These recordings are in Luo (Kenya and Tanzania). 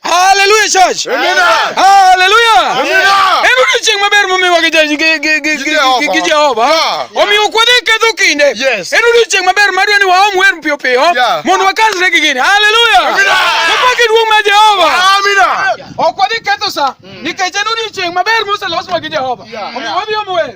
Hallelujah church. Amina. Hallelujah. Amina. Hebu tuching maber momiwa gi gi Jehova. Omiyo kwadhi ketho kinde. Hebu tuching maber madwa ni waom wer piyo piyo mondo wakasre gi gini. Hallelujah. Amina. Kapaki duong' ma Jehova. Amina. Ok wadhi ketho sa nikech en odiechieng' maber moseloswa gi Jehova. Omiyo wadhi om wer.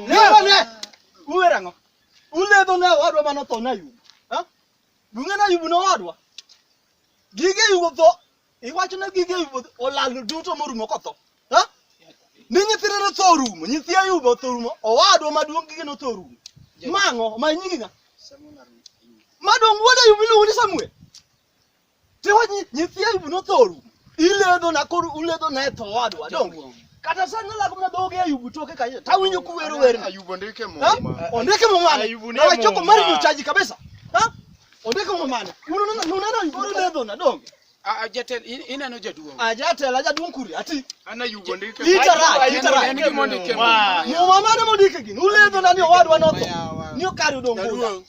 Uwerang'o? Uledho ne owadwa mano tho na yugo. Ha? Bunge na yugo ne owadwa. Gige yugo tho. Iwacho ne gige yugo olal duto morumo kotho. Ha? Ni nyithinde no tho orumo, nyithi Ayub otho orumo, owadwa maduong' gige no tho orumo. Mang'o ma nyingi ng'a? Maduong' wuod Ayub iluongo ni Samuel. Tiwa nyi- nyithi Ayub nothoru. Iledho na koro uledho na e tho wadwa donge. Kata sani nalago mana dhoge Ayub toke kanyo. Tawinjo kuwero werni. Ayubu ndike Ha? muma. Ondike mumane. Ayubu ni Na wachopo muma. mari nyochaji kabisa. Ha? Ondike mumane. Unanena unanena Ayub oledho na donge. Ah, jatend in- ineno jaduong'. Ajatela jaduong' kuri ati. An Ayubu ndike. Ita ra, Ayubu ita ra. en gima ondike muma. Muma mane mondike gini. Uledho na ni owadwa notho. Ni okari odong' Jaduong'.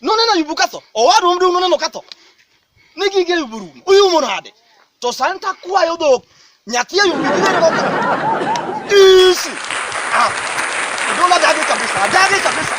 none na yubu katho owadwa mdu none no katho ne gige yubu rumo uyu mo nade to santa kwayo dhok nyathi yubu gige no katho isi ah dola dage kabisa dage kabisa